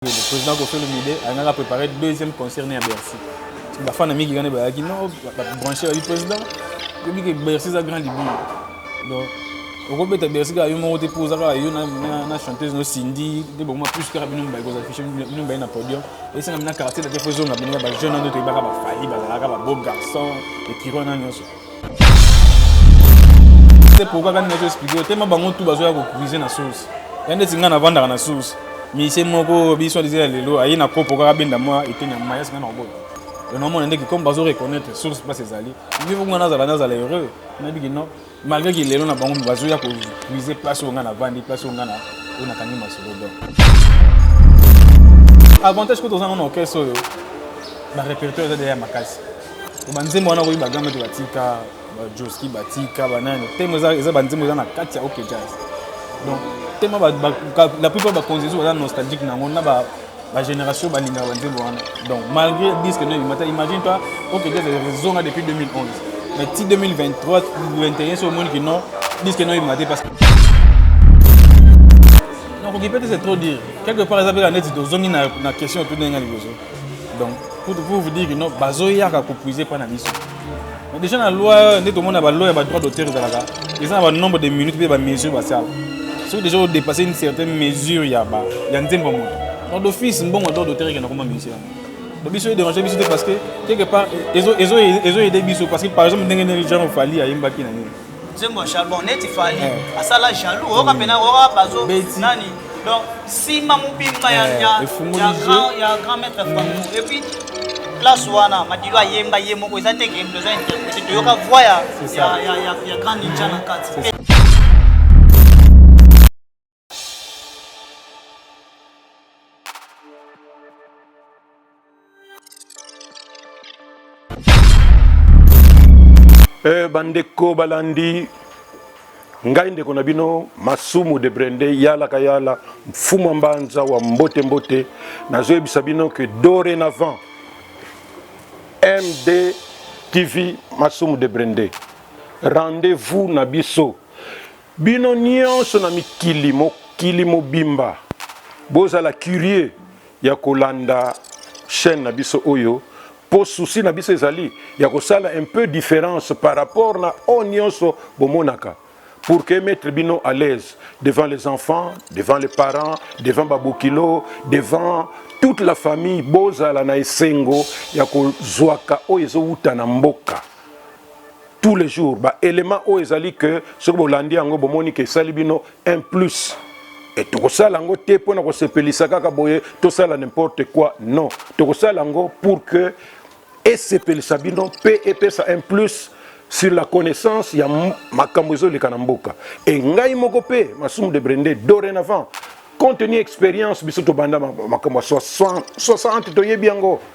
Le président Koffi Olomide alingaka préparer deuxième concert ne ya Bercy. Parce que bafana mingi kani bayaki non babranche babi président oyebi ke Bercy eza grand libulu. Donc okobeta Bercy kaka yo moko te mpo oza kaka yo na, na, na chanteuse no Cindy nde bokoma plus kaka bino mibale kozala fiche bino mibale na podium esanga mina quartier na te fo ezonga bino ya bajeune wana nde toyebaka bafali bazalaka babeau garçon ekiro wana nyonso te pourquoi kani nazo explique yo tema bango tout bazoya kocuise na source ya ndeti ngai navandaka na source misie moko biso alize ya lelo aye na kopo kaka benda mwa eteni ya mai asinga na kobota onomona ndeki comme bazo reconnaître source place ezali niveau ngai nazala nazala heureux nayebiki non malgré ki lelo na bango bazoya kocuise place oyo ngai navandi place oyo ngai na oyo nakangi masolo donc avantage kuta oza ngai na orchestre oyo barépertoire eza deya makasi banzembo wana okoki bagamba te batika bajoski batika banani temo eza banzembo eza na kati ya oke jazz donc temo la plupart bakonzi ezo baza nostalgique na yango na bagénération balingaka banzembo wana donc malgré disque no ebimata imagine toi oke jazz ezonga depuis 2011 mais ti 2023 21 so omoni kino disque no ebima te parce nakoki peut-être c'est trop dire quelque part eza mpe la neti tozongi na question otu ndenge ya liboso donc pour vous dire que non bazoyaka kopuise epai na biso déjà na loi nde tomona baloi ya badroit d'auteur ezalaka eza na banombre de minutes mpe bamesure basala soki déjà odepasse une certaine mesure ya nzembo ya moto donc d'office mbongo droit d'auteur ekenda koma musicien donc biso edérange biso te parce que quelque part ezo aide biso parce que par exemple ndenge nini genre fali ayembaki na nini nzembo ya charbon neti fali eh. asala jaloux oyoka mm. mpena oyoka bazo nani donc nsima mobimba ya eh, grand maître franco mm. epuis place wana madilo ayemba ye moko eza te kemdo eza interprete toyoka voi ya grand ninja na kati Eh, bandeko balandi ngai ndeko na bino masumu de brende yalaka yala mfumu ya mbanza wa mbote mbote nazoyebisa bino ke dorénavant md tv masumu de brende rendez-vous na biso Bino nionso na mikili mokili mobimba bozala curieux ya kolanda chaine na biso oyo po souci na biso ezali ya kosala un peu difference par rapport na oyo nionso bomonaka pour que emettre bino à l'aise devant les enfants, devant les parents, devant ba bokilo, devant toute la famille bozala na esengo ya kozwaka oyo ezowuta na mboka. tous les jours ba éléments oyo ezali que soki bolandi yango bomoni ke esali bino un plus et tokosala yango te mpo na kosepelisa kaka boye tosala n'importe quoi non tokosala yango pour que esepelisa bino mpe epesa un plus sur la connaissance ya makambo ezoleka na mboka e ngai moko mpe masumu de brende dorénavant compte tenu expérience biso tobanda makambo ya 60 toyebi yango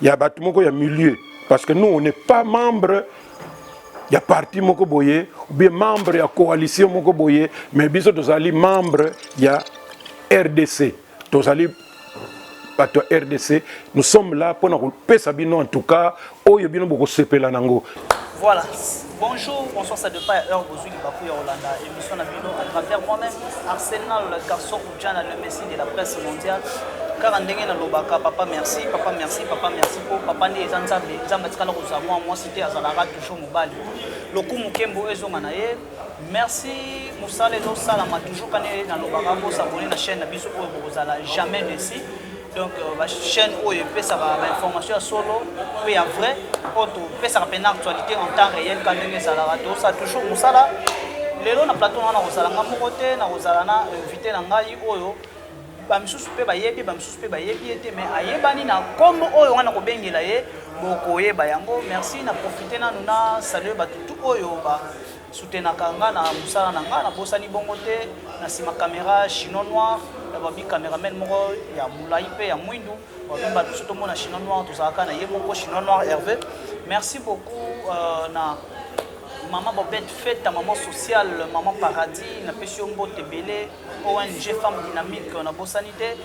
ya bato moko ya milieu parce que nous on n'est pas membre ya parti moko boye ou bien membre ya coalition moko boye mais biso tozali membre ya rdc tozali bato ya rdc nous sommes là mpo na kopesa bino en tout cas oyo bino bokosepela nango voilà Bonjour, bonsoir, ça dépend ya heure bozui libaku ya kolanda émission na bino à travers moi-même Arsène Nalola Carson Udjana le messie de la presse mondiale kaka ndenge nalobaka papa merci papa merci papa merci mpo papa nde eza nzambe nzambe atikala kozala mwa mwasi te azalaka toujours mobali lokumu nkembo ezonga na ye merci mosala ezosalama toujours kani nalobaka bosabone na chaîne na biso oyo bokozala jamais desi donc euh, bachaîne oyo epesaka bainformation ya solo mpe ya vrai oyo topesaka mpena actualité en temps réel ka ndenge ezalaka tosala toujours mosala lelo na plateau wana nakozala nga moko te nakozala na invité na ngai oyo bamisusu mpe bayebi bamisusu mpe bayebi ye te mais ayebani na nkombo oyo wana kobengela ye bokoyeba yango merci na profite nanu na salue bato tu oyo ba Soutenaka nga na musala na nga, nabosani bongo te. Na sima camera chinois noir ya ba bi cameraman moko ya mulayi mpe ya mwindu babi bato biso tomona chinois noir tozalaka na ye moko chinois noir Hervé. Merci beaucoup euh, na mama bobette feta mama sociale mama paradis napesi yo mbote ebele ong femme dynamique nabosani te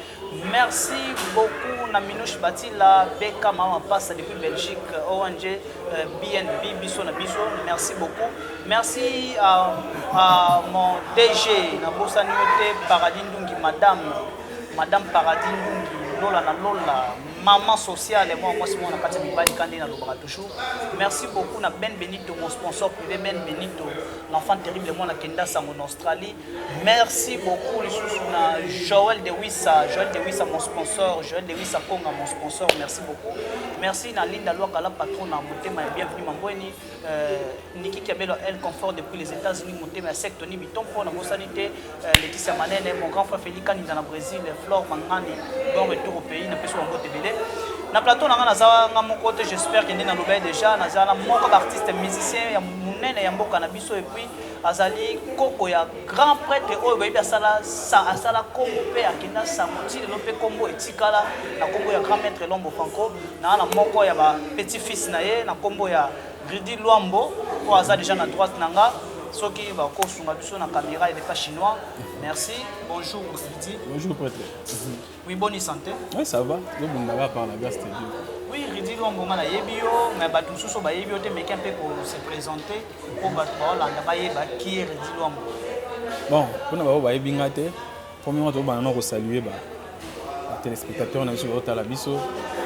Merci beaucoup na Minouche Batila Beka Mama Pasta depuis Belgique ONG euh, BNB biso na biso merci beaucoup merci à, à mon DG na bosani te Paradis Ndungi madame madame Paradis Ndungi lola na lola maman sociale moi moi moi na kati mibali kande na lobaka toujours merci beaucoup na Ben Benito mon sponsor privé Ben Benito l'enfant terrible moi na kenda sango na Australie Merci beaucoup lisusu na Joël de Wissa, Joël de Wissa mon sponsor, Joël de Wissa Konga mon sponsor. Merci beaucoup. Merci na Linda Luaka la patronne na motema ya bienvenue mambweni. Euh, Niki Kabelo elle confort depuis les États-Unis motema ya secte ni bitompo na bosani te euh, Laetitia Manene, mon grand frère Félix Kaninda na Brésil, Flore Mangani, bon retour au pays na peso bango tebele. Na plateau na nga naza nga moko te j'espère que nde na lobai déjà naza na moko d'artiste musicien ya munene ya mboka na biso et puis Azali koko ya grand pretre oyo bayebi asala sa asala kombo mpe akenda sango ti lelo mpe kombo etikala na kombo ya grand maître Lombo Franco na na moko ya ba petit fils na ye na kombo ya Rudy Luambo oyo aza deja na droite na nga soki bakosunga biso na camera edefa chinois merci bonjour Rudy bonjour pretre Oui, bonne santé. Oui, ça va. Yo bonga ba par la grâce de Dieu. Oui, Ridi Longo nga nayebi yo, mais bato mosusu bayebi yo te meke mpe ko se présenter mpo bato baolanda bayeba qui est Ridi Longo. Bon, mpona bango bayebi nga te, premièrement tokobanda na kosalue ba téléspectateurs na biso baotala biso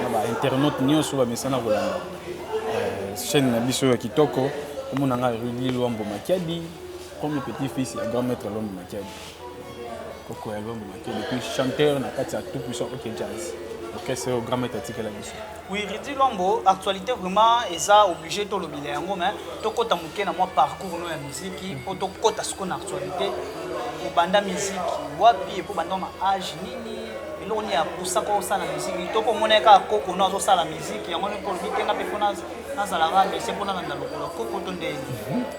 na ba internautes nyonso bamesana kolanda euh, chaîne na biso ya kitoko komona nga Rudi Luambo Makiadi comme petit fils ya grand maître Luambo Makiadi. koko ya lombo maki depuis chanteur na kati ya tout puissant ok jazz orchestre oyo grand maître atikela biso oui ridi lombo actualité vraiment eza obligé tolobela yango mais tokɔta moke na mwa parcours no ya miziki mpo tokɔta sikoyo na actualité obanda miziki wapi epo obanda na age nini eloko nini apusaka osala miziki to komona ye kaka koko no azosala miziki yango nde olobi te nga mpe mpo nazalaka mese mpo nalanda lokolo koko to ndenge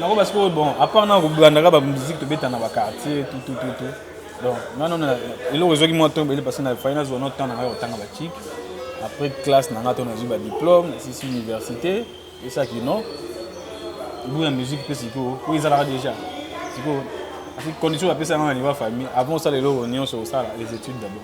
nako ba sikoyo bon apart na kobandaka ba musique tobeta na ba quartier tout tout tout tout donc nga nano eloko ezwaki mwa temps ebele parce que na fai nazwa no temps na ngai kotanga ba chic après classe na ngai to nazwi ba diplôme nasisi université esaki non gout ya musique mpe sikoyo oyo ezalaka déjà sikoyo condition bapesa yango na niveau ya famille avant osala eloko nyonso osala les études d'abord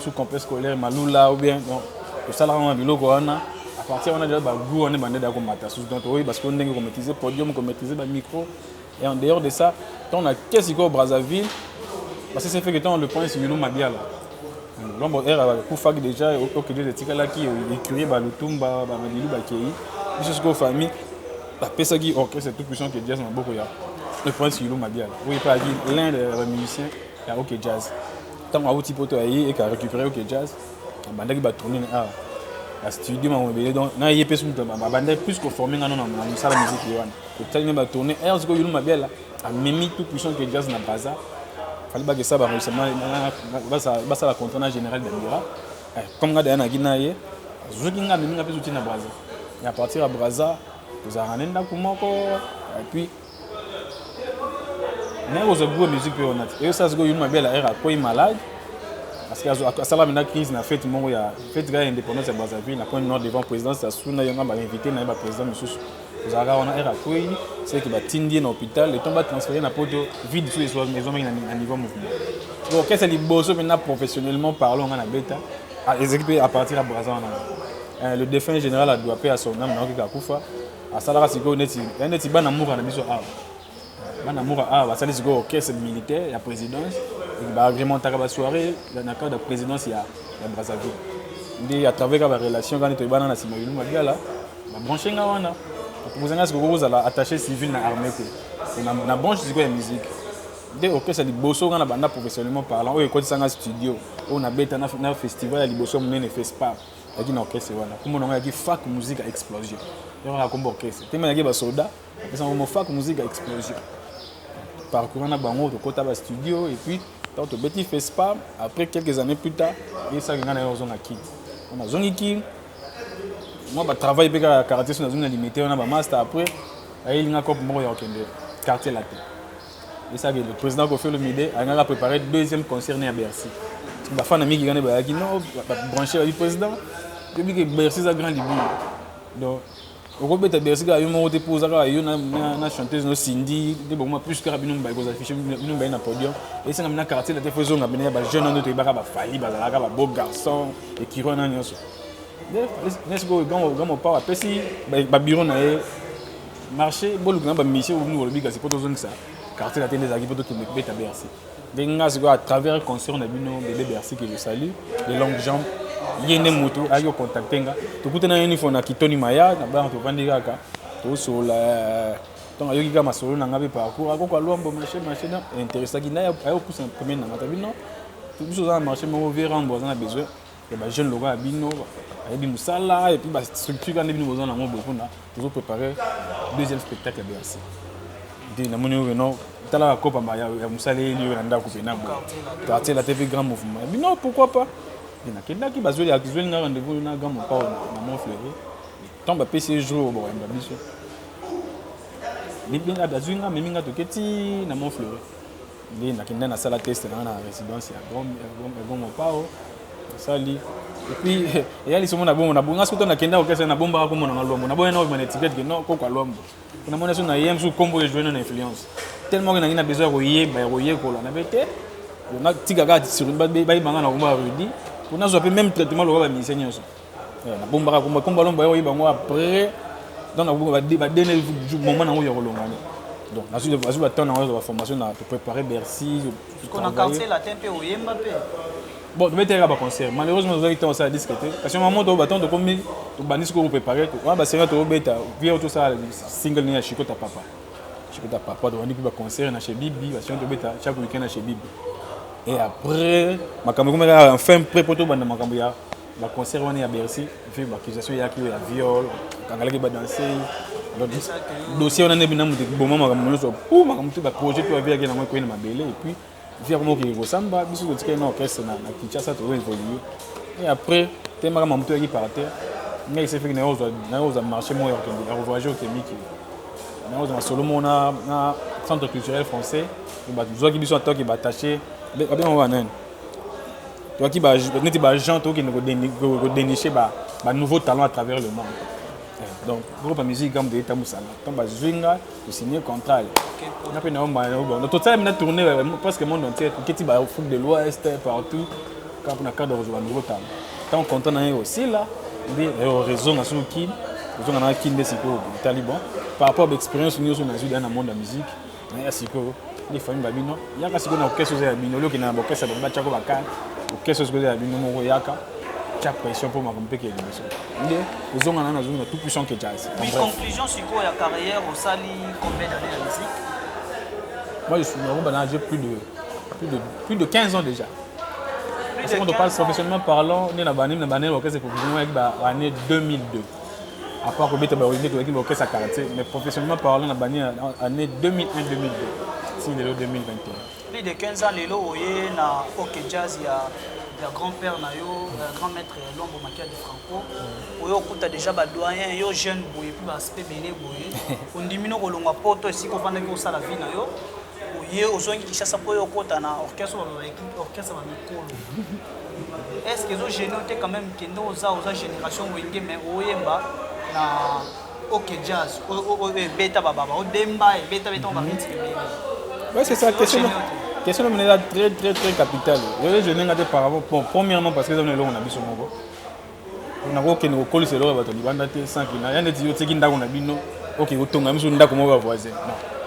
sous complexe scolaire malula ou bien donc tosalaka na biloko wana à partir wana déjà bagout wana ebandaki ya komata susu donc toyeba sikoyo ndenge komaîtrise podium komaîtrise bamicro et en dehors de ça ntango na ke sikoyo brazzaville parce que c'est fait que ntango le prince milo mabiala lombo ere akufaki déjà okende etikalaki ecurie balutumba bamadilu bakei biso sikoyo famille bapesaki orchestre tout puissant que jazz maboko ya le prince milo mabiala oyo epalaki l'un de bamusicien ya ok jazz Ntango awuti poto aye eka récupérer ok jazz abandaki ba tourner na awa ba studio mango ebele donc na ye mpe soki abandaki plus koforme nga no na mosala miziki wana kotali na ba tourner aire sikoyo yulu mabiala amemi tout puissant que jazz na baza fali bakesa bango lisama basala contrat na général dandira comme nga daya naki na ye azuki nga amemi nga mpe zuti na braza à partir ya braza tozalaka na ndako moko epuis naye kozwa groupe ya musique mpe wana te oyo sasa sikoyo yuma bela era akwei malade asala mena crise na fete moko ya fete kaka ya indépendance ya brazzaville na point nord devant présidence ya suna yonga bainvité na ye baprésident mosusu ozalaka wana era akwei seke batindi ye na hôpital eton batransfere na poto vide su ezwamaki na niveau mouvement orchestre liboso mpe na professionnellement parlant nga na beta ah, ezalaki mpe à partir ya braza wana euh, le défunt général adoua mpe ya son ame naoki kakufa asalaka sikoyo neti neti bana muka na biso awa bana muka awa basali sikoyo orchestre militaire ya présidence baagrementaka basoirée na cadre ya présidence ya brazzaville nde à travers ba relation kani toyebana na nsima yulu mabiala babranche nga wana aproposa nga sikoyo kozala attaché civil na armée te na branche sikoyo ya musique nde orchestre liboso nga na banda professionnellement parlant oyo ekotisa nga studio oyo nabeta na festival ya liboso ya monene fespar yaki na orchestre wana kombo na ngai yaki fak musique explosion yoko na kombo orchestre te mai yaki basoda apesa kombo fak musique explosion parcourant na bango tokota ba studio et puis ntango tobeti fespa après quelques années plus tard yesaki ngai na yo ozonga kin wana azongi kin mwa batravail mpe kaka karate so nazongi na limite wana bamaster après ayelinga cope moko ya kokende quartier latin Esa que le président Koffi Olomide alingaka préparer deuxième concert ne ya Bercy. Ba fans na Miki Gane bayaki non ba brancher ba président. Toyebi que Bercy eza grand libulu. Donc okobeta Bercy kaka yo moko te mpo oza kaka yo na, na, na chanteuse no Cindy nde bokoma plus kaka bino mibale kozafishe bino mibale na podium esanga bina quartier late fo ezonga bina ya bajeune wana toyebaka bafali bazalaka babeau garçon ekiri wana nyonso nde sikoyo gamo pawa apesi babiro na ye marché boluka na bamisio bino bolobi kasi mpo tozongisa quartier latin nde ezalaki mpo tokende kobeta bercy ndenge ngai sikoyo à travers concert na bino bebe bercy que je salue de longue jambe ye nde motu ayaki kocontacte nga tokutana ye nifo na kitoni maya na bana tovandi kaka tosolola ntango ayoki kaka masolo na ngai mpe parcours akoko alwambo marché marché na interessaki na ayokusa pembeni na ngai tabi non biso oza na marché moko vie rambo aza na besoin ya ba jeune lokola bino ayebi mosala et puis ba structure wana bino boza nango boye mpona tozo préparer deuxième spectacle ya bercy nde namoni oyo no tala bakopamba ya mosaleli oyo na ndako mpena boye quartier la te mpe grand mouvement ya bino pourquoi pas nakendaki bazweli azweli nga rendez-vous na grand mopao na mont fleuri ntango bapesi ye jour bakoyamba biso azwi nga amemi nga toke ti na mont fleuri Nde nakenda nasala teste na nga na residence ya Gom- ya Gom- ya Goma Pao nasali epuis eya lisomo na bongo nabonga soki to nakenda orchestre nabombaka kombo na nga Luambo naboya nao na etiquette ke no koko ya Luambo mpo namoni soki naye mosusu kombo oyo ejouena na influence tellement ke nangi na besoin ya koyeba ya koyekola nabe te natika kaka sur- babe- bayeba nga na kombo ya Rudy mpo nazwa mpe même traitement lokola bamusicien nyonso Eh, na bomba ko komba lomba yo yeba ngo après donc na ba ba dene moment na ngo ya kolonga ne donc na suite azu ba temps na ngo ba formation na pour préparer Bercy ko na quartier latin pe oyemba pe bon to meteka ba concert malheureusement ozaki temps ça disque te parce que maman to ba temps to komi to bandi ko préparer ko ba sera to beta vieux tout ça single ni ya Chico ta papa Chico ta papa to bandi ba concert na chez Bibi ba sera to beta chaque week-end na chez Bibi et après makambo komeka enfin prêt poto banda makambo ya ba concert wana ya Bercy mpe ba accusation eyaki ya viol kangalaki ba danseuse donc dossier wana nde bina moto ekiboma makambo nyonso po makambo te ba projet to aviaki nango ekwei na mabele et puis vi akoma okende kosamba biso totikali na orchestre na kinshasa tozo évoluer et après temaka makambo to yaki par terre ngai esefeki nayo ozwa marché moko ya kokende ya kovoyage okemiki nayo ozwa masolo moko na centre culturel français bato zwaki biso ataki batache babenga wana nani toyaki neti baagent tokende kodeniche banouveau talent à travers le monde eh, donc groupe ya musique gambo toyei tambusana ntango bazwi nga tosigne contrat nga mpe nayo tosalami na tourne euh, presque monde entier toketi baafrique de l'ouest euh, partout kaka mpona cadre kozwa banouveau talent ntango contrat na ye osila nde euh, réseau nasuki ozonga na kin nde sikoyo taliban par rapport baexpérience nyonso nazwi daya na monde ya musique Mais ya sikoyo les familles ba bino yaka sikoyo na okesa oza ya bino olioki na bokesa bango batiako bakani okesa sikoyo oza ya bino moko yaka tya pression mpo makambo mpe kee liboso nde ozonga nano azongi na tout puissant ke jazz Oui, conclusion sikoyo ya carrière osali combien d'années na musique moi je suis nakomba na j'ai plus de plus de plus de 15 ans déjà Plus parce de que quand on 15 parle ans. professionnellement parlant nde na bani na bani orchestre professionnellement yaki ba année 2002 à part kobeta ba olympique tozalaki baorchestre ya quartier mais professionnellement parlant na bani année 2001 2002 si lelo 2021 plus de 15 ans lelo oye na ok jazz ya ya grand père na yo euh, grand maître ya lombo makia de franco oyo okuta déjà badoyen yo jeune boye mpe baaspect bene boye ondimi no kolongwa poto esika ofandaki osala vie na yo Oye ozongi Kinshasa mpo yo okota na orchestre baloba orchestre ba mikolo. Est-ce que ezo gêner te quand même kende oza oza génération wenge mais oyemba na OK jazz oyo ebeta bababa odemba ebeta beta ba minutes ebele. Ouais c'est ça question. Question mine eza très très très capitale. Oyo je n'ai pas de par rapport premièrement parce que eza na elongo na biso moko. nakokende kokolisa eloko ya bato ya libanda te sans kina ya neti yo otiki ndako na bino oke kotonga misu ndako moko ya voisin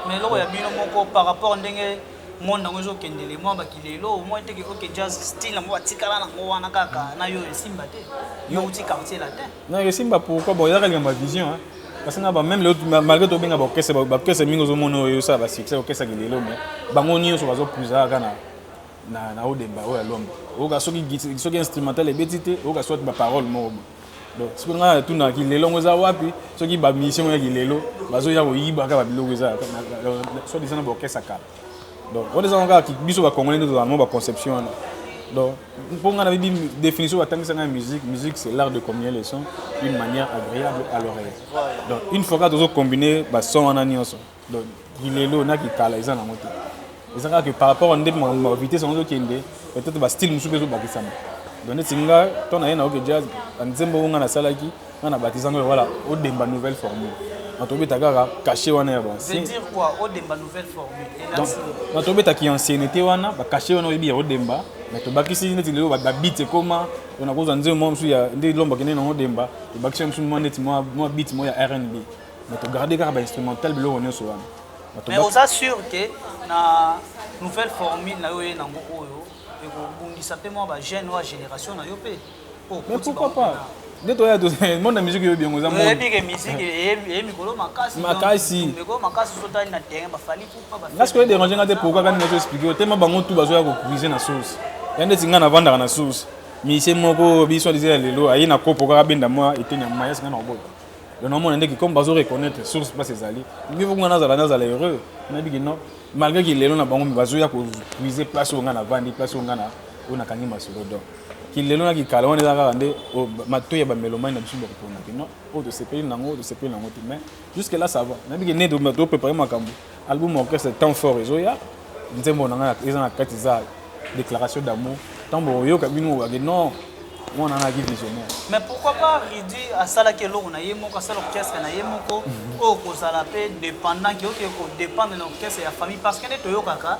mais eloko ya bino moko par rapport ndenge monde yango ezokendele mwa bakilelo omoi teke oke jazz style yango batikala nango wana kaka na yo esimba te yo outi quartier latin non esimba pourquoi bon ezaka likambo ya vision kasi na bameme lelo malgré tobenga baorchestre baorchestre mingi ozomona oyo esala basuccès orchestre kilelo mais bango nyonso bazopusa kaka na na na odemba oyo alomba oyoka soki soki instrumental ebeti te oyoka soit ba parole moko bo donc soki ngai natuna kilelo ngo eza wapi soki ba mission ya kilelo bazoya koyiba kaka biloko eza soit disant na ba orchestre kala donc on eza kaka biso ba congolais ndio tozalamo ba conception wana donc mpo ngai nayebi définition batangisa ngai musique musique c'est l'art de combiner les sons d'une manière agréable à l'oreille donc une fois kaka tozo combiner ba son wana nyonso Donc, kilelo na kitala eza nango te. Eza kaka que par rapport nde ma vitesse yango ezokende, peut-être ba style mosusu mpe ezobakisama. Donc neti nga to naye na Oke Jazz, ba nzembo oyo nga nasalaki, nga na batisango ya voilà, Odemba nouvelle formule. Na tobeta kaka cachet wana ya ba anciens. Veut dire quoi? Odemba nouvelle formule. Donc, na tobeta ki ancienneté wana, ba cachet wana oyebi ya Odemba, mais tobakisi neti lelo ba beats ekoma, donc nakozwa nzembo moko mosusu ya nde Lomba akendeki nango Odemba, tobakisi yango mosusu mwa neti mwa beat moko ya rnb. mais to garder kaka ba instrumental biloko nyonso wana mais oza sûr que na nouvelle formule na yo ye nango oyo ekobundisa mpe mwa bajeune oyo ya génération na yo mpe oh, mais pourquoi pas nde toya monde ya musique eyebi yango eza oyebike musique eye mikolo makasi makasi mikolo makasi sotali na terrain bafali nga sikoyo ederange nga te pourkua kani nazo explike yo tema bango tu bazoya kokuise na source ya ndeti nga navandaka na source mise moko biso alize ya lelo aye na kopo kaka benda mwa eteni ya mayasi nga na kobota donc namona ndeki comme bazo reconnaître source place ezali mieux vaut nga nazala nazala heureux nayebi ke non malgré ke lelo na bango bazoya kopuise place oyo nga navandi place oyo nga oyo nakangi masolo donc kilelo na kikala wana eza kaka nde matoi ya bamelomani na biso bakopona ke non oyo tosepeli nango oyo tosepeli nango te mais jusque là ça va nayebi ke nde toprépare makambo Album orchestre temps fort ezoya nzembo na nga eza na kati za déclaration d'amour tant bo yoka bino wa que non moi na ki visionnaire mais pourquoi pas Rudy asala ke longo na yemo ka sala orchestre na yemo ko mhm. o ko sala pe dépendant ki oke ko dépendre na orchestre ya famille parce que ne to yoka ka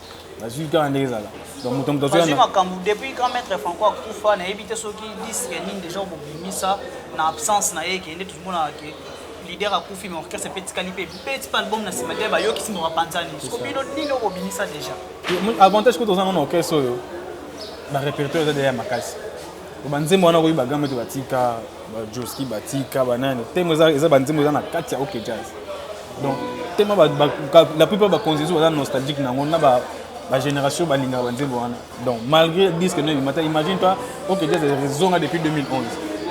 nazwi kaka ndenge ezala donc moto moto azwi makambo depuis grand maître franco akufa nayebi te soki disque nini déjà okobimisa na absence na ye ke nde tozomonaka ke leader akufi mais orchestre mpe etikali mpe beti mpe album na nsima te bayokisi moko bapanzani soko bino nini okobimisa déjà avantage kuta ozanga na orchestre oyo barépertoire eza deja ya makasi banzembo wana okoki bagambe te batika ba Joski ba Tika ba nani temo eza eza ba nzembo eza na kati ya OK Jazz donc temo ba, ba la plupart ba konzezo baza nostalgique nango na ba ba génération balingaka ba nzembo wana donc malgré disque no ebimata imagine toi OK Jazz ezonga depuis 2011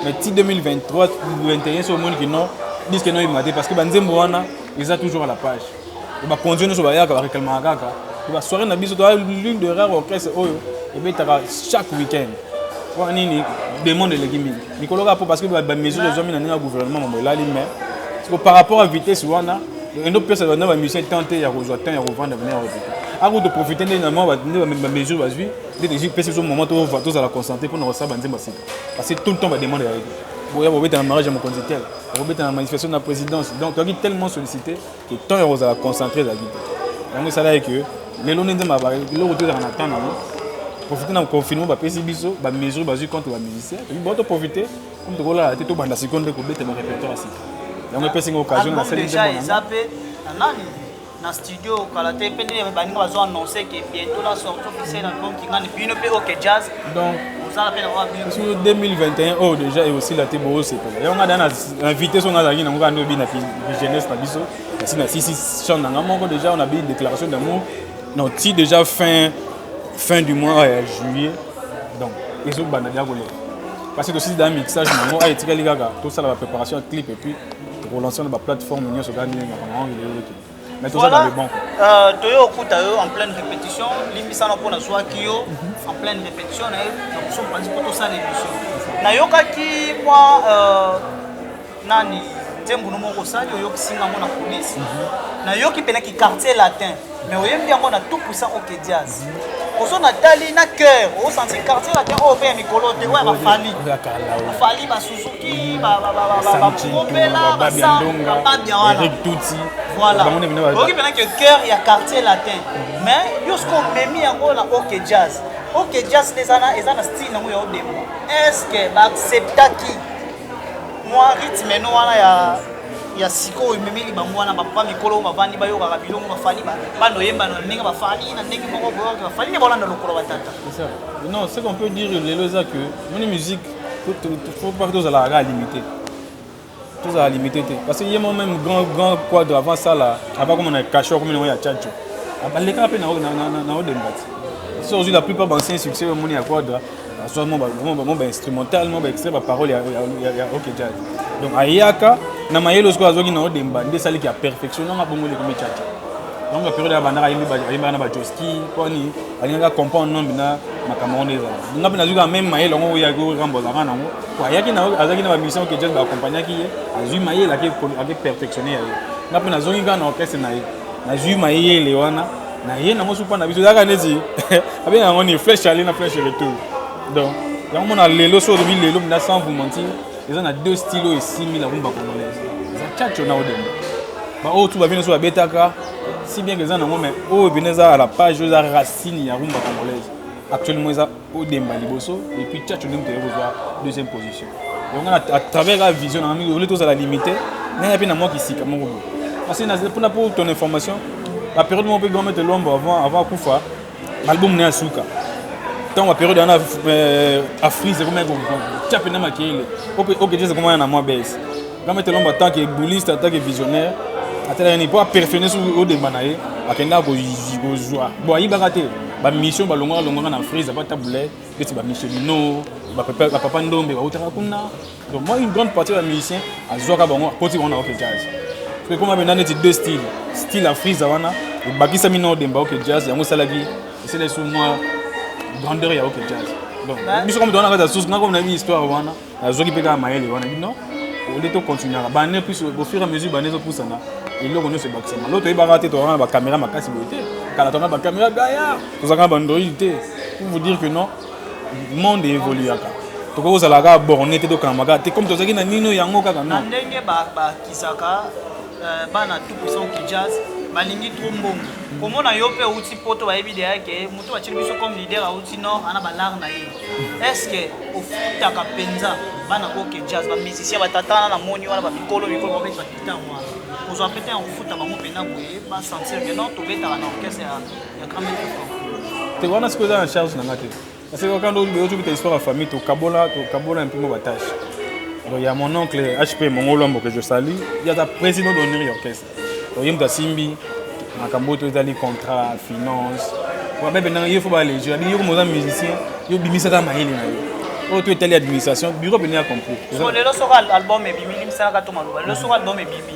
mais ti 2023 21 so omoni kino disque no ebimate parce que ba nzembo wana eza toujours à la page bakonzi nyonso bayaka bareklamaka kaka to basoire na biso toa lune de rare orchestre oyo ebetaka chaque week-end mpona nini demande eleki mingi mikolo kaka mpo parce que bamesure ezwami na ndenge ya gouvernement mambo elali mais siko par rapport à vitesse wana endo pesa na bamusicien temps te ya kozwa temps ya kovanda bina ya kozwa ako toprofite nde na mwa nde bamesure bazwi nde tozi pesi biso moment tozala concentre mpona kosala banzembo ya sika parce que tout le temps bademande ya boya bobeta na mariage ya mokonzi tel okobeta na manifestation na présidence donc toyaki tellement sollicité que temps ya kozala concentré ezalaki te yango esalaki que lelo nde nzemba eloko tozalaka na temps nango profite na confinement bapesi biso bamesure bazwi contre bamusicien toki bao toprofite comme tokolala te tobanda sikoyo nde kobeta barépertoire ya sika yango epesi nga occasion nasali nzembo na studio kala te mpe nde baninga bazo annonce ke bientôt la sortie officielle album kingani bino mpe ok jazz donc ozala mpe nakoka bino sur 2021 oyo déjà ekosila te boosepela yango nga da na invité so nga azalaki nango kaka nde obina jeunesse na biso asi na sisi chant na nga moko déjà on abini déclaration d'amour non ti déjà fin fin du mois ya euh, juillet donc ezobanda déjà koleka parce que tosisi da mixage nango aye etikali kaka tosala ba préparation ya clip et puis Toko lancer na ba plateforme nyoso kaka ndenge na bango ngi lelo ki. Mais toza dans le bon. Euh toyo okuta yo en pleine répétition, limbisa na pona zwa ki yo mhm. en pleine répétition na na kuso panzi poto sa l'émission. Na yoka ki moi euh nani nzembo no moko sali oyoki singa ngo na police. Mhm. Na yoki pena ki quartier latin. mais oyembi yango na tout puissant oke diaz ozo na tali na cœur osanti quartier latin oyo mpe ya mikolo te oyo bafali bafali basuzuki bakopela bababia wanaoki mpena ke cœur ya quartier latin mm. mais yo soki omemi yango na oke jazz oke jazz nde eza na style yango ya odemba est ce que baacceptaki mwa rythme no wana ya ya sikoyo ememeli bango wana bapapa mikolo oyo bavandi bayokaka bilongo bafali bana oyemba na ndenge bafali na ndenge moko boyoki bafali nde baolanda lokolo batata non ce qu'on peut dire lelo eza que moni musique faut pas tozalaka kaka limité tozala limité te parce que ye mo même grand grand quadre avant sala aba koma na cacheur komi nango ya chacho abalekaka mpe na odemba te so ozwi la plupart bancien succès omoni ya quadre azwa mwa ba- mwa ba- mwa bainstrumental mwa baextrait baparole ya, ya, ya, ya ok jazz donc ayaka na mayele sikoyo azwaki na odemba nde esaliki ya perfection nanga bongo lekomi chacha donc ya periode abandaka ayembi ba- ayembaka na bajoski poni alingaka comprendre nombi na makambo wana ezala nga mpe nazwi kaka meme mayele yango oyo yaki orambo azalaka nango po ayaki na azalaki na bamusicien ok jazz baakompagnaki ye azwi mayele ake perfectionne ya ye nga mpe nazongi kaka na orchestre na ye nazwi mayele wana na ye nango supa na biso ezalaka neti abenga yango ni flèche aller na flèche retour donc yango mona lelo so olobi lelo mina sans vous mentir eza na deux style oyo esimbi na rumba congolaise eza chacho na odemba baoyo tu babino so babetaka si bien que eza nango mais oyo mpena eza à la page oyo eza racine ya rumba congolaise actuellement eza odemba liboso et puis tchatcho nde moto aye kozwa deuxième position donc nga à travers la vision nanga mingi ole tozala limité nanga mpe na mwa kisika moko boye parce que mpona pour ton information la période moko mpe grand maître lombo avant avant akufa album na ya suka ntango baperiode wana afrise ekomaki tya mpenza makele okejeza ekomana na mwa bese Jean Maître Lomba en tant que bouliste, en tant que visionnaire, atalaka nini mpo aperfectionne soki odemba na ye akendaka kozwa bon ayibaka te bamission balongaka longaka na frise aba tabule beti bamission bino bapapa ndombe bautaka kuna donc moi une grande partie ya bamusicien azwaka bango akoti bango na oke jazz ekoma mpenza neti deux style style ya frise wana ebakisami na odemba oke jazz yango esalaki esalaki su mwa grandeur ya oke jazz donc biso kama towana kati ya susu nga koma na bi histoire wana nazoki mpe kaka mayele wana bino ole to continuaka bane plus au fur et à mesure bane ezopusana eloko nyonso ebakisama lo toyebaka te tozalaka na bakamera makasi boye te kala tozalaka na bakamera gaya tozalaka na bandroid te pour vous dire que non monde evoluaka tokoki kozala kaka borne te tokangama kaka te comme tozalaki na nino yango kaka non ndenge bakisaka euh, bana tout puissant ki jazz balingi trop mbongo komona yo mpe outi poto bayebi deyake moto batili biso comme leader auti nord ana balare na ye eske ofutaka mpenza bana oke jazz bamusicien batatana na moni wana bamikolo mikolo babeta gitar wana kozwa mpe te ya kofuta bango mpenza boye basentir ke non tobetaka na orchestre ya grand maître te wana sikoyo eza na charge na nga te parce que okanda ozobeta histoire ya famille tokabola tokabola mpe mo batâche donc ya mon oncle hp mongolo amboke josali ye aza président d'honneur ya orchestre oye moto asimbi makambo oyo tozali contrat finance babepe ndanga yo fo balegi babi yo komoza musicien yo bimisaka mayele na yo oyo to etali administration bureau pene ya compris lelo soko album ebimi limisanaka to maloba lelo soko album ebimi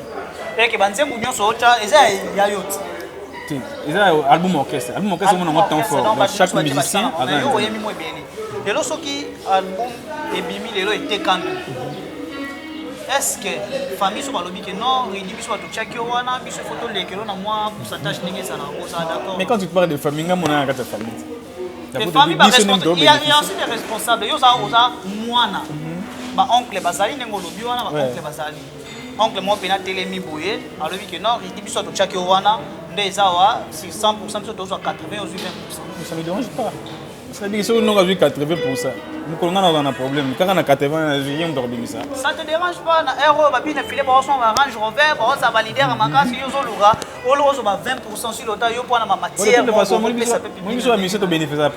eke banzembu nyonso otya eza ya yo ti te eza album orchestre album orchestre omona yango temps fort donc chaque musicien aza oyemi mo ebele lelo soki album ebimi lelo etekami est-ce que famille soki balobi que non redi biso batotiaki yo wana biso faut tolekelo na mwa pourcentage ndenge ezala ozala d'accord mais quand tu parles de famille nga monana kati ya famille te famille baensi des responsable yo oza oza mwana mhm. baoncle bazali ndenge olobi wana baoncle bazali oncle moko mpena telemi boye alobi ke non redi biso atotiaki yo wana nde eza wa 600 biso tozwa 80 ozwi 20 ça me dérange pas Sabiki soki noko azwi 80 pourcent mokolo ngai nazala na problème kaka na 80 ye moto akobimisa ça te dérange pas na heure oyo babina file baosomba ba range rover baoza balidere ya makasi yo ozoluka oloka ozwa ba 20 pourcent si lota yo mpo wana bamatièremobiso ya misie tobénéficiaka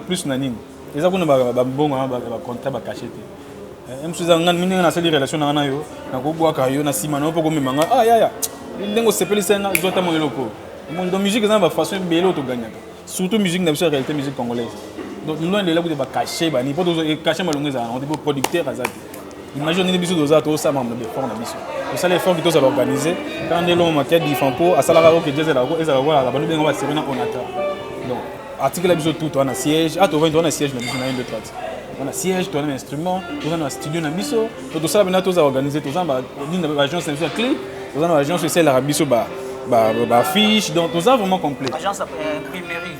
plus na nini eza kuna babongo bacontra bakache te eh, msuza nga ndenge nasali relation nanga na yo nakobwaka yo na nsima na yo mpo komema nga ah yaya ndenge osepelisa nga zwa ta mwa eloko mondo musique eza na bafaçon ebele oyo toganyaka Surtout musique na biso ya réalité musique congolaise. Donc loin de là kutu ba cacher ba ni poto zo cacher malongo eza on dit producteur aza te. Imagine nini biso doza to sama mo effort na biso. To sala effort ki to za organiser quand de l'homme qui a dit Franco asala ka que Jazz la ko eza la ko la banu benga ba serena on attend. Donc article la biso tout on a siège, ah to vendre on a siège na biso na 1 2 3. On a siège, on a instrument, on a studio na biso. to tosala mpena toza organise toza na baagence na biso ya clé toza na baagence oyo esalelaka biso bafiche donc toza vraiment complet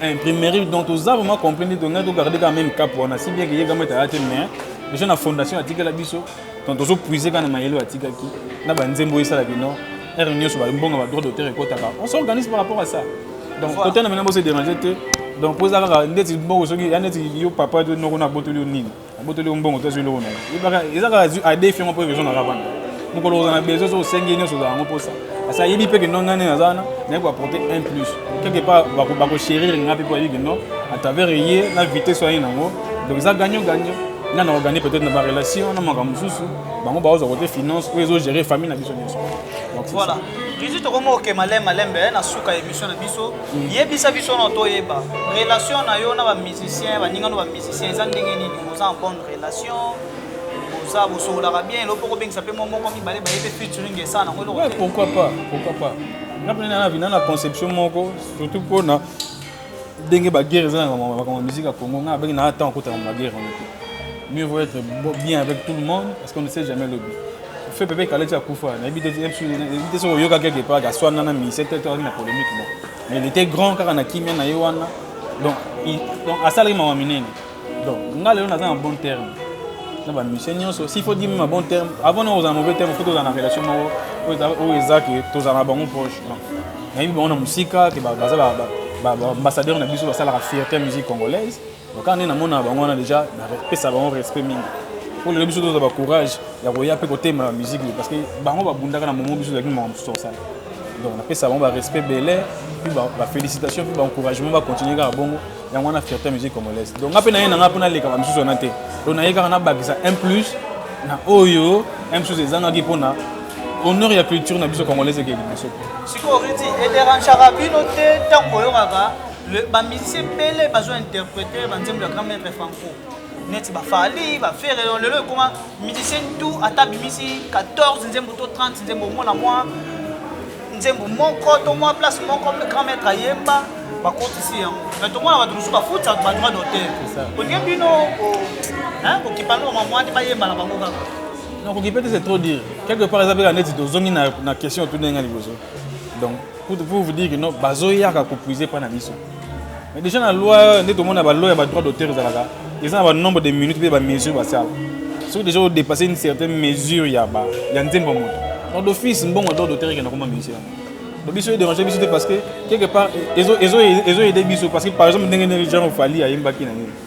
euh, imprimerie donc toza vraiment complet nde tongai togarde kaka même cap wana si bien keyekama ete aya te mais déjà na fondation atikela biso donc tozopuise kaka na mayele oyo atikaki na banzembo oyo esalaki non heure nyonso bambonga badroit d'auteur ekotaka on s'organise par rapport à ça donc kotana maintenant bose dérange te donc mpo eza kaka ndeti mbongo soki ya ndeti yo papa noko nabotoli yo nini abotoli yo mbongo to azwi eloko na yo yebaka eza kaka azwi adefi yango mpo ezo na kaka wana mokolo kozala na besoin so osengi nyonso ozala yango mposa parce ayebi mpe kino ngai nde naza wana naye koapporte un plus quelque part bakochérir ngai mpe mpo ayebi kino à travers ye na vitesse oyo aye nango donc eza gagnant gagnant nga na organi peut-être na barelation na makambo mosusu bango baoza kote finance oyo ezogere famille na biso nyonso voilà tuzi tokomi kokema lem malembe eh, na suka ya émission na biso mm. yebisa biso na toyeba relation na yo na bamusicien baninga no musicien eza ndenge nini oza en bonne relation oza bosongolaka bien eloko mpo kobengisa mpe mwa moko mibale baye mpe featuring esala nango eloko pourquoi pas pourquoi pas nga mpe nana vina na conception moko surtout mpo na ndenge baguerre eza na makambo ya musique ya congo nga abenge naa temps okotaka na baguerre yango te mieux vaut être bien avec tout le monde parce qu'on ne sait jamais le but fait pepe kaleti akufa nayebi te soki oyoka quelque part aswana na mise te to azali na polémique mo mais il était grand kaka na kimia na ye wana donc donc asalaki mawa minene donc nga lelo naza na bon terme na bamusicien nyonso s'il faut dire ma bon terme avant na kozala mauvais terme fo tozala na relation moko oyo eza ke tozala na bango proche nayebi bango na mosika ke baza baambassadeur na biso basalaka fierté ya musique congolaise donc kaka nde namonaka bango wana déjà napesa bango respect mingi mpo lelo biso tozala bacourage ya koya mpe kotemela bamusike parce que bango babundaka na momo biso ezalaki makambo mosusu tosala donc napesa bango barespect bele puis bafélicitation puis baencouragement bacontinue kaka bongo yango wana fierté ya musique congolaise donc nga mpe naye na nga mpo naleka bamosusu wana te donc naye kaka nabakisa un plus na oyo un plus ezangaki mpo na honneur ya culture na biso congolaise ekei liboso sikoyo riti ederanchaka bino te ntango boyokaka bamusicien ebele bazo interprete banzembo ya grand maître franco neti ba fali ba ferre lelo ekoma musicien tout ata abimisi 14 nzembo to 30 nzembo omona mwa nzembo moko to mwa place moko grand maître ayemba bakotisi yango mais tomona bato mosusu bafuta badroit d'auteur olie bino kokipa ngo mamwani bayemba na bango kaka nakoki mpe te c'est trop dire quelque part eza mpeka neti tozongi na question otuni nga liboso donc pour vous dire que non bazoyaka kopuise mpa na biso mais déjà na loi nde tomona ba loi ya ba droit d'auteur ezalaka eza na ba nombre de minutes mpe ba mesure basala soki déjà odépasse une certaine mesure ya ba ya nzembo moto donc d'office mbongo droit d'auteur ekenda koma minisi yango donc biso edérange biso te parce que quelque part ezo ezo ezo aide biso parce que par exemple ndenge nini genre fali ayembaki na nini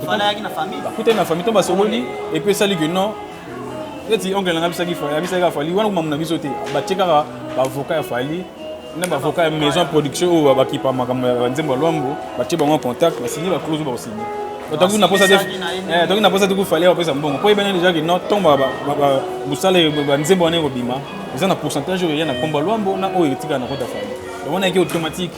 Tofandaki na famille. Bakutani na famille to basololi et puis esali que non neti oncle nanga bisaki fa bisaki ka fali wana kuma muna biso te ba tie kaka ba avocat ya fali na ba avocat ya maison production oyo ba kipa makambo ya nzembo lwambo ba tie bango contact ba signer ba clause ba signer otangi na posa te eh tangi na posa te ku fali ba pesa mbongo po ebene déjà que non tombo ba ba musala ba nzembo wana ekobima eza na pourcentage oyo ya na komba lwambo na oyo etika na kota fali donc on a été automatique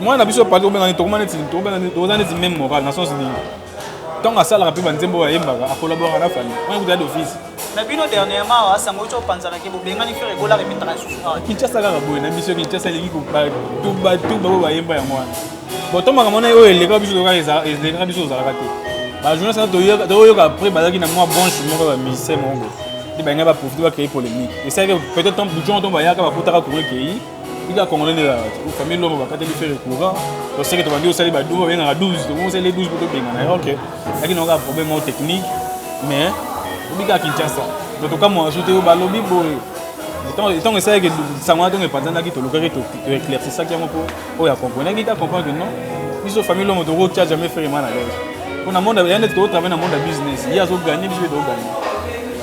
mwana na biso pali tobenga nini tokoma neti tobenga nini toza neti meme moral na sens nini ntango asalaka mpe banzembo oyo ayembaka akolaboraka na fali wana kuta ya d'office na bino dernièrement awa sango ti opanzanaki bobengani fere ekolaka emitaka lisusu awa kinshasa kaka boye na biso kinshasa elingi kobatuba tuba oyo bayemba yango wana botomaka mona oyo elekaka biso elekaka biso ozalaka te bajournaliste wana toyoka après bazalaki na mwa branche moko ya musicien moko nde balingai baprofite bacreye polémique esalaki peut-être bujon ntongo bayaka bakutaka kuro ekei Ida congolais nde ezalaka te famille lombo bakateli fere courant toseke tobandi osali ba 12 babengaka 12 tokomi osali 12 po tobengana ye ok yaki naoka problème moko technique mais obikaka kinshasa donc tokamwa su te yo balobi boye ntango esalaki sango wana ntongo epanzanaki tolukaki toeclaircisaki yango mpo oyo acompreneaki te acomprendre non biso famille lombo tokotia jamais fere mwana lege mpo na monde ya nde tokotravaille na monde ya business ye azoganye biso mpe toganye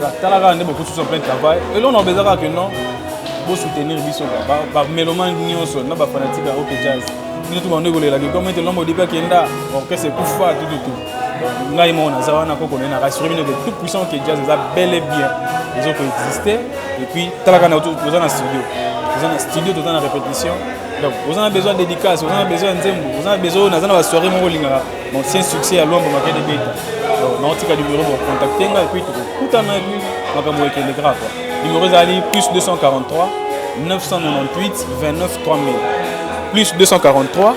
Bah, tala kaka nde bokususu en plein travail eloko na obeza kaka ke non bosoutenir biso bameloma nyonso na bafanatike ya oke jazz bino tu bando ekolelaki comme ete lombo odipe akenda orchestre ekufa tututu ngai moko naza wana koko naye na rassure bino ke tout puissant oke jazz eza bel et bien ezo koexiste et puis tala kaka toza na studio toza na studio toza na répétition donc oza na besoin ya dédicace oza na besoin ya nzembo oza na besoin oyo naza na basoirée moko olingaka Ancien succès ya Luambo Makede Beta. Donc, na otika numéro pour contacter nga et puis tokokutana et puis makambo ekende grave. Numéro ezali plus 243 998 29 3000. Plus 243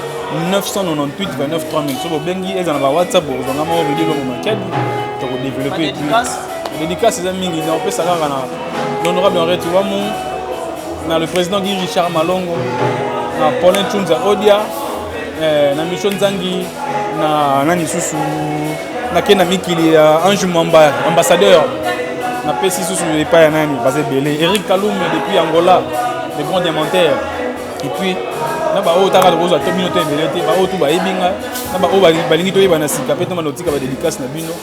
998 29 3000. Soki obengi eza na ba WhatsApp bokozanga moko Rudy Luambo Makede. Tokodévelopper et puis dédicace eza mingi na opesa kaka na l'honorable Henri Tuamu na le président Guy Richard Malongo na Paulin Chunza Odia Eh, na mission nzangi na nani susu nake na mikili ya ange mwamba ambassadeur napesi susu epai ya nani baza ebele eric kalume depuis angola le grand diamantaire epuis na baoyo otaka tokozwa to bino to ebele te baoyo tu bayebi nga na baoyo balingi toyeba na sika mpe ntomba notika badédicace na bino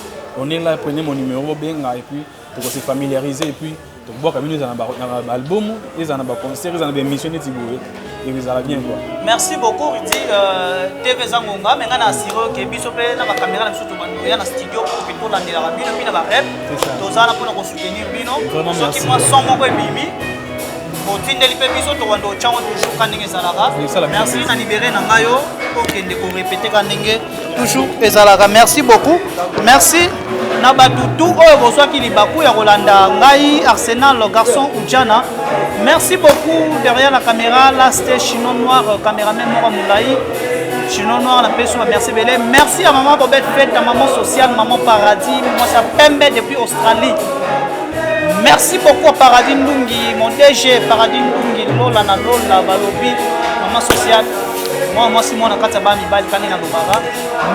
on est là prenez mon numéro benga epuis tokose familiariser epuis tokobwaka bino ezala na baalbum ezala na baconcert ezala na baémission neti boye ekozala bien quoi merci beaucoup rudi euh, tv eza ngonga me ngai na asire oke biso mpe na bakamera na biso tobandoya na studio mpo mpe tolandelaka bino mpe na barep toza na mpona kosoutenir bino soki mwa son moko ebimi otindeli mpe biso tokobanda otyango toujours ka ndenge ezalaka merci na libere na ngai yo okende korepete ka ndenge toujours ezalaka merci beaucoup merci na bato tout oyo bozwaki libaku ya kolanda ngai arsenal garçon ujana merci beaucoup derrière la caméra laste chino noir cameraman moko molai chino noir napesi yo bamerci ebele merci ya mama bobet fete ya mama sociale mama paradis mwasi ya pembe depuis australie merci beaucoup paradis ndungi mon dg paradis ndungi lola na lola balobi mama sociale mwana mwasi moko na kati ya bana mibali kani na lobaka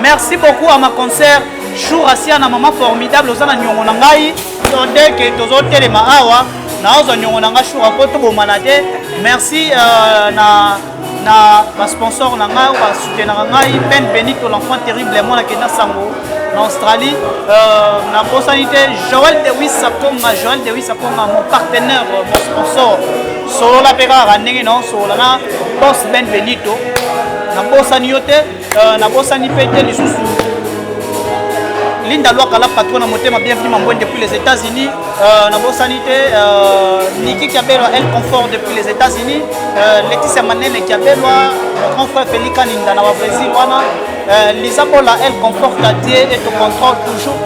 merci beaucoup à ma concert jour asia na mama formidable oza na niongo na ngai todeke tozotelema awa naozwa niongo na ngai jour mpo tobomana te merci euh, na na basponsor na ngai basutenaka ngai ben benito l'enfant terrible ya mwana kenda sango na australie euh, nabosani te joel dewis akonga joel dewis akonga mon partenaire mon sponsor solola mpe kaka ndenge na osolola na bos ben benito nabosani yo te euh, nabosani mpe te lisusu linda lwaka la patron na motema bienvenu mambwen depuis les états-unis euh, nabosani te euh, niki kiabelwa el confort depuis les états-unis leticia manene kiabelwa grand frère felika ninda na babrésil wana liza bola el confort ta die et te contrôle toujours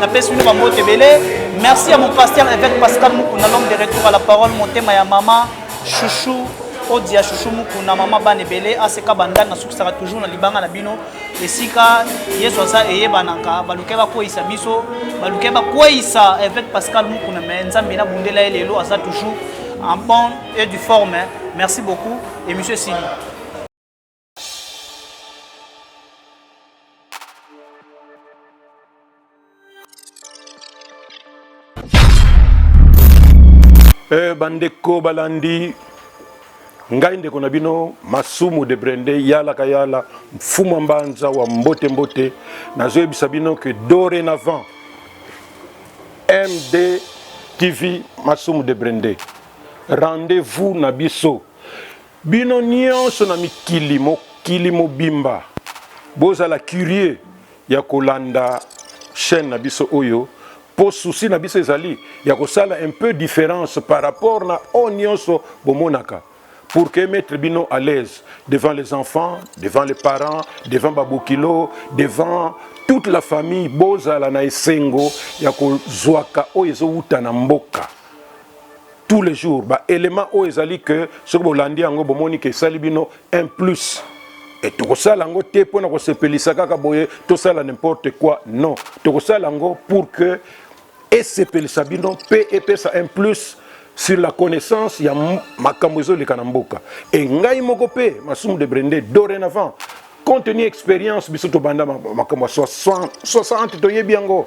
napesi bino bambote ebele Merci à mon pasteur évêque Pascal Mukuna, l'homme de retour à la parole, mon thème à maman, chouchou, odia chouchou Mukuna, maman ban ebele, aseka bandal na sukisaka toujours na libanga na bino, esika Yesu aza eye banaka, baluke ba koisa biso, baluke ba koisa évêque Pascal Mukuna, mais nzambe na bundela ye lelo aza toujours en bonne et du forme. Hein. Merci beaucoup et monsieur Sili. Eh, bandeko balandi ngai ndeko na bino masumu de brende yalaka yala mfuma mbanza wa mbote mbote nazoyebisa bino ke dorénavant md tv masumu de brende rendez-vous na biso Bino nionso na mikili mokili mobimba bozala curieux ya kolanda chaine na biso oyo po souci na biso ezali ya kosala un peu difference par rapport na oyo nionso bomonaka pour que emettre bino à l'aise devant les enfants, devant les parents, devant ba bokilo, devant toute la famille bozala na esengo ya kozwaka oyo ezowuta na mboka. tous les jours ba élément oyo ezali que soki bolandi yango bomoni ke esali bino un plus et tokosala yango te mpo na kosepelisa kaka boye tosala n'importe quoi non tokosala yango pour que esepelisa bino mpe epesa un plus sur la connaissance ya makambo ezoleka na mboka e ngai moko mpe masumu de brende dorénavant compte tenu expérience biso tobanda makambo ya 60 toyebi yango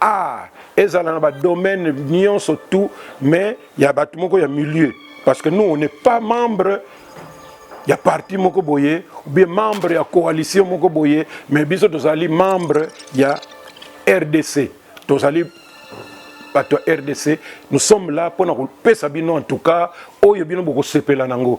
Ah, ezala na ba domaine nyonso tout mais ya bato moko ya milieu parce que nous on n'est pas membre ya parti moko boye ou bien membre ya coalition moko boye mais biso tozali membre ya rdc tozali bato ya rdc nous sommes là mpo na kopesa bino en tout cas oyo bino bokosepela nango